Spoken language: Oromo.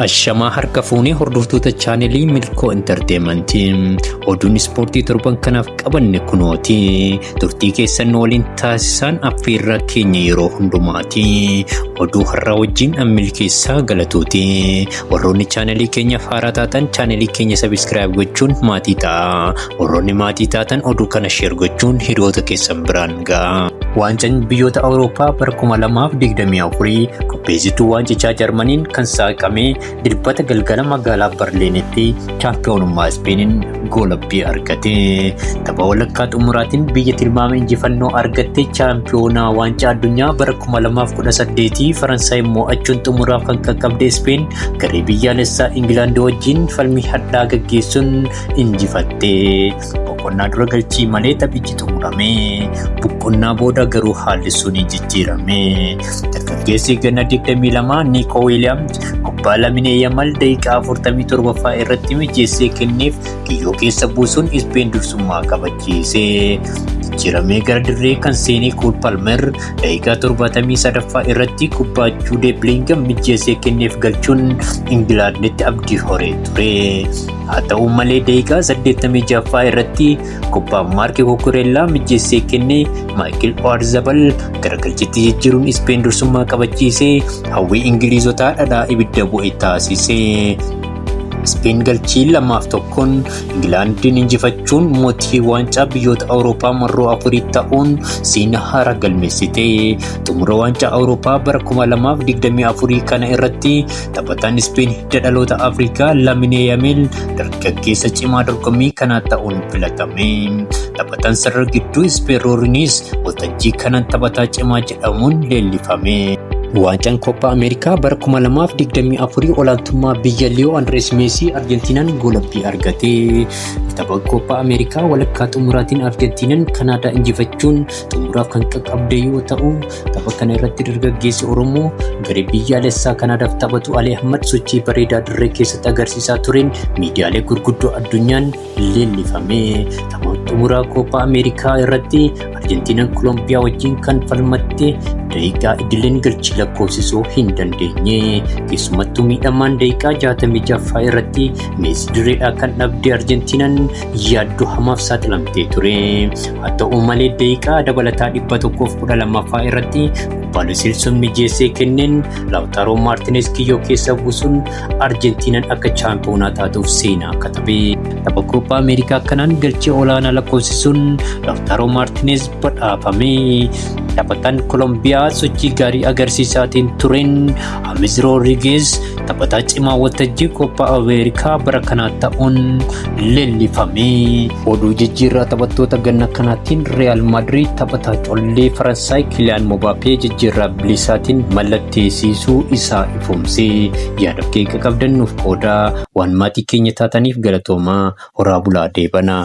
Ashamaa harka fuunee hordoftoota chaanelii Milkoo Intarteemantii oduun ispoortii torban kanaaf qabanne kunooti turtii keessan nu waliin taasisaan affeerraa keenya yeroo hundumaati oduu har'aa wajjin ammil keessaa galatooti warroonni chaanelii keenyaaf haaraa taatan chaanelii keenya sabiskiraayib gochuun maatii ta'a warroonni maatii taatan oduu kana sheer gochuun hiriyoota keessan biraan ga'a. Waancaan biyyoota Awurooppaa bara 2024 qopheessituu waancichaa Jarmaniin kan saaqame dirbata galgala magaalaa Barliinitti chaampiyoonummaa Ispeeniin goolabbii argate. Tapha walakkaa xumuraatiin biyya tilmaama injifannoo argatte chaampiyoonaa waancaa addunyaa bara 2018 Faransaay mo'achuun xumuraaf kan qaqqabde Ispeen garee biyyaalessaa Ingilaand wajjin falmii hadhaa gaggeessuun injifatte. Boqonnaa dura galchii malee taphichi xumurame. Boqonnaa booda garuu haalli sun jijjiirame. Dargaggeessi ganna 22 Niikoo Wiiliyaams kubbaa Laminee Yamal daqiiqaa 47ffaa irratti mijeessee kenneef kiyyoo keessa buusuun Ispeen dursummaa kabachiise. Jijjiiramee gara dirree kan seenee Kool Palmer daqiiqaa 73ffaa irratti kubbaa Juudee Biliingam mijeessee kenneef galchuun Ingilaanditti abdii horee ture. Haa ta'u malee daqiiqaa 86ffaa irratti kubbaa Maarki Kukureellaa mijjeessee kenne Maayikil Oyarzabal garagalchitti jijjiiruun Ispeen dursummaa qabachiisee hawwii Ingiliizotaa dhadhaa ibidda bu'e taasise. Ispeen galchii lamaaf tokkoon Ingilaandiin injifachuun mootii waancaa biyyoota Awurooppaa marroo afurii ta'uun seenaa haaraa galmeessite. Xumura waancaa Awurooppaa bara 2024 kana irratti Taphataan Ispeen hidda dhaloota Afrikaa Laminee Yamil dargaggeessa cimaa dorgommii kanaa ta'uun filatame. Taphataan sarara gidduu Ispeen Roorinis waltajjii kanaan taphataa cimaa jedhamuun leellifame. Waancaan Koppaa Ameerikaa bara 2024 olaantummaa biyya Liyoo Andirees Meesii Arjentiinaan goolabbii argate. Tapha Koppaa Ameerikaa walakkaa xumuraatiin Arjentiinaan Kanaadaa injifachuun xumuraaf kan qaqqabde yoo ta'u, Tapha kana irratti dargaggeessi Oromoo garee biyyaalessaa Kanaadaaf taphatu Ali Ahmad sochii bareedaa dirree keessatti agarsiisaa tureen miidiyaalee gurguddoo addunyaan leellifame. Tapha xumuraa Kooppaa Ameerikaa irratti Arjentiinaan Kolombiyaa wajjin kan falmatte daqiiqaa idileen galchii lakkoofsisuu hin dandeenye. Keessumattuu miidhamaan daqiiqaa 66ffaa irratti Meesii direedhaa kan dhabde Arjentiinaan yaaddoo hamaaf saaxilamtee ture. Haa ta'u malee daqiiqaa dabalataa 112ffaa irratti Baalusil sun mijeessee kenneen Laawtaaroo Maartinees kiyyoo keessa buusuun Arjentiinaan akka chaampiyoonaa taatuuf seenaa akka tabe. Tapha Kooppaa Ameerikaa kanaan galchee olaanaa lakkoofsisuun Laawtaaroo Maartinees badhaafame. Taphataan Kolombiyaa sochii gaarii agarsiisaatiin tureen Amiz Roodrigeez taphataa cimaa waltajjii Koppaa Ameerikaa bara kanaa ta'uun leellifame. Oduu jijjiirraa taphattoota ganna kanaatiin Riyaal Maadriid taphataa collee Faransaay Kiliyaan Mobaapee jijjiirraa bilisaatiin mallatteessisuu isaa ifoomse. Yaada keeqa qabdan nuuf qoodaa waan maatii keenya taataniif galatoomaa horaa bulaa deebanaa.